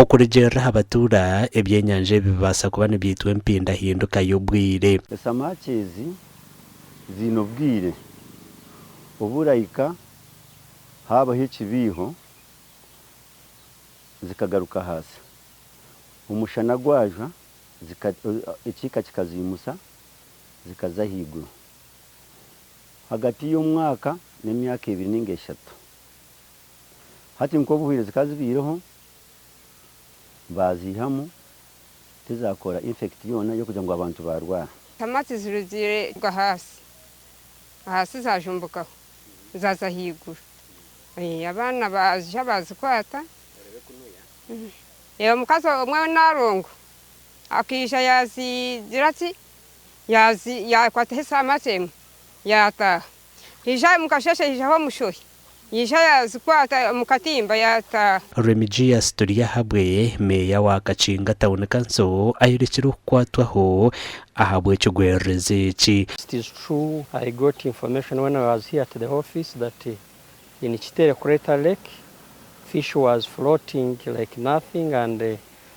Okurugiirira aha batuura, ebyenyanja ebi bibaasa kuba nibyitwa empindahinduka y'obwire. Esamaaki ezi ziine obwire obu orahika haabaho ekibiiho zikagaruka ahansi. Omushana gwajwa ekiika kikaziimusa zikaza ahaiguru. Ahagati y'omwaka n'emyaka ebiri nainga eshatu. Hati nk'obu obuhwire zikaba zibaireho, baaziihamu tizakora infekiti yoona y'okugira ngu abantu baarwara. Ntama tizirugiire kuruga ahansi, ahansi zaajumbukaho zaaza ahaiguru. Abaana baaziha baazikwata. Omukazi omwe ow'enaarongo akaija yaazigira ki, yaakwataho esaamaki emwe yaataaha. Yaija aha mukasheeshe yaijaho omushohi, yaija yaazikwata omu katimba yaataaha. Remigius Turyahabwe, Meeya wa Kakinga Town Council ayorekire okukwatwaho ahabw'ekigwererezi eki. It is true I got information when I was here at the office that in Kitere Crater Lake fish was floating like nothing and